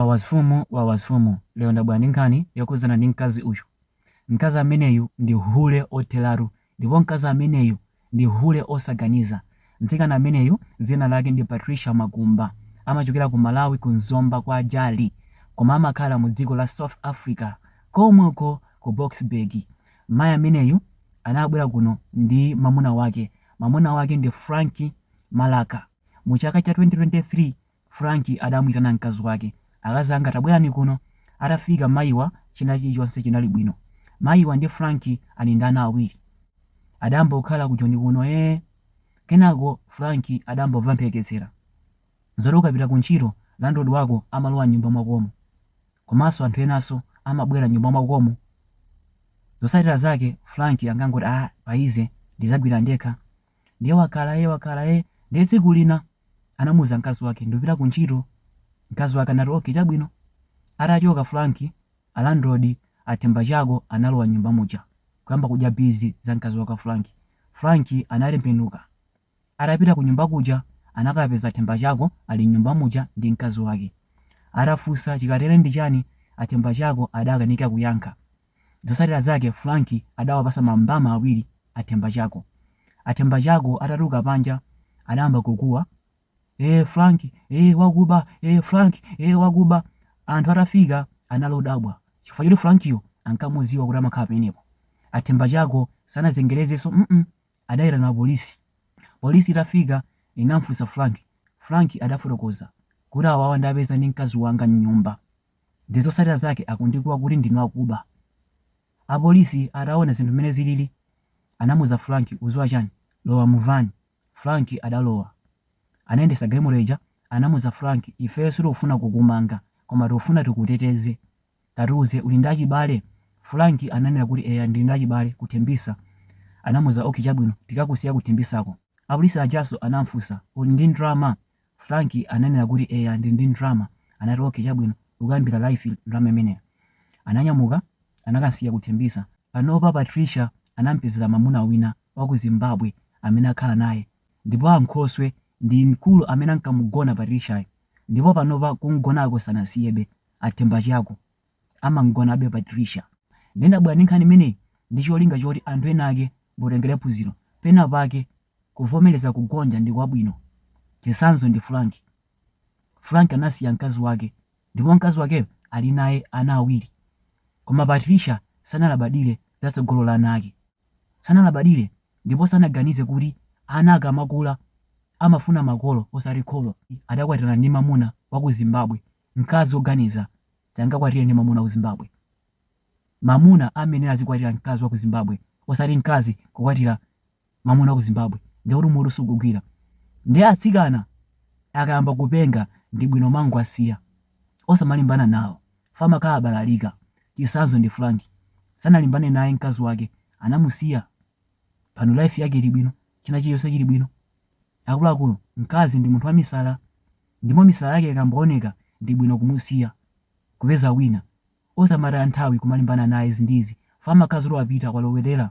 Wawa mfumu wawa mfumu lero ndabwera ndi nkhani yokhudzana ndi mkazi uyu. Mkazi ameneyu ndi hule otheratu ndipo mkazi ameneyu ndi hule osaganiza. Mtsikana ameneyu dzina lake ndi Patricia Makumba amachokera ku Malawi ku Zomba kwa Jali koma amakhala mu dziko la South Africa komweko ku Boksburg. Mai ameneyu anabwera kuno ndi mamuna wake. Mamuna wake ndi Frank Malaka. Mu chaka cha 2023. Frank adamuitana mkazi wake. Akazi anga tabwerani kuno. Atafika mayiwa china chilichonse chinali bwino. Mayiwa ndi Frank ali ndi ana awiri. Adayamba kukhala ku Joni kuno ee. Kenako Frank adangomva mphekesera zoti ukapita kuntchito landlord wako amalowa m'nyumba mwakomo komanso anthu enanso amabwera m'nyumba mwakomo. Zotsatira zake Frank ankangoti aah paize ndizagwira ndekha. ndiye wakhala ee wakhala ee ndiye tsiku lina anamuuza mkazi wake ndikupita ku ntchito mkazi wake anati okay chabwino atachoka frank a landlord a Themba Chako analowa m'nyumba muja kuyamba kudya bizi za mkazi wake frank frank anatembenuka atapita ku nyumba kuja anakapeza a Themba Chako ali m'nyumba muja ndi mkazi wake atafunsa chikatere ndi chani a Themba Chako adakanika kuyankha Zotsatira zake Frank adawapatsa mambama awiri a Thembachako. A Thembachako atatuluka panja adayamba kukuwa, Eee Frank, ee wakuba, ee Frank, ee wakuba. Anthu atafika anali odabwa chifukwa choti Frankiyo ankamudziwa kuti amakhala pamenepo. A Thembachako sanazengerezenso mm adayitana apolisi. Polisi itafika inamfunsa Frank, Frank adafotokoza kuti awawa ndawapeza ndi mkazi wanga m'nyumba. Ndiye zotsatira zake akundikuwa kuti ndinu akuba. Apolisi ataona zinthu mmene zilili anamuuza Frank, Ukudziwa chani? Lowa mu van. Frank adalowa. Anayendetsa galimoto ija. Anamuuza Frank, Ifeyo sitikufuna kukumanga koma tikufuna tikuteteze. Tatiuze, uli ndi achibale? Frank ananena kuti, Eya, ndili ndi achibale ku Tembisa. Anamuuza, Ok, chabwino. Tikakusiya ku Tembisako. Apolisi ajanso anamfunsa, Uli ndi ndalama? Frank ananena kuti eya ndili ndi ndrama anati okay chabwino ukayambira life ndrama imeneyo. Ananyamuka anakamsiya ku Thembisa. Panopa Patricia anampezera mamuna wina waku Zimbabwe amene akhala naye ndipo ankhoswe ndi mkulu amene ankamugona Patriciayo ndipo panopa kumgonako sanasiyebe a Themba Chako amamgonabe Patricia. Nde ndabwera ndi nkhani imeneyi ndi cholinga choti anthu ena ake mutengere phunziro pena pake Kuvomereza kugonja ndi kwabwino. Chitsanzo ndi Frank. Frank anasiya mkazi wake ndipo mkazi wakeyo ali naye ana awiri. Koma Patricia sanalabadire za tsogolo la ana ake. Sanalabadire ndipo sanaganize kuti ana akamakula amafuna makolo osati kholo. Adakwatira ndi mamuna wa ku Zimbabwe. Mkazi woganiza sangakwatire ndi mamuna wa ku Zimbabwe. Mamuna amayenera azikwatira mkazi wa ku Zimbabwe osati mkazi kukwatira mwamuna wa ku zimbabwe ndiye kuti mutu sukugwira ndiye atsikana akayamba kupenga ndi bwino kumangowasiya osamalimbana nawo chifukwa amakhala abalalika chitsanzo ndi frank sanalimbane naye mkazi wake anamusiya pano life yake ili bwino china chilichonse chili bwino akuluakulu mkazi ndi munthu wamisala ndipo misala yake ikamba kuoneka ndi bwino kumusiya kupeza wina osamataya nthawi kumalimbana naye zinthuzi chifukwa amakhala zoti wapita kwalowerera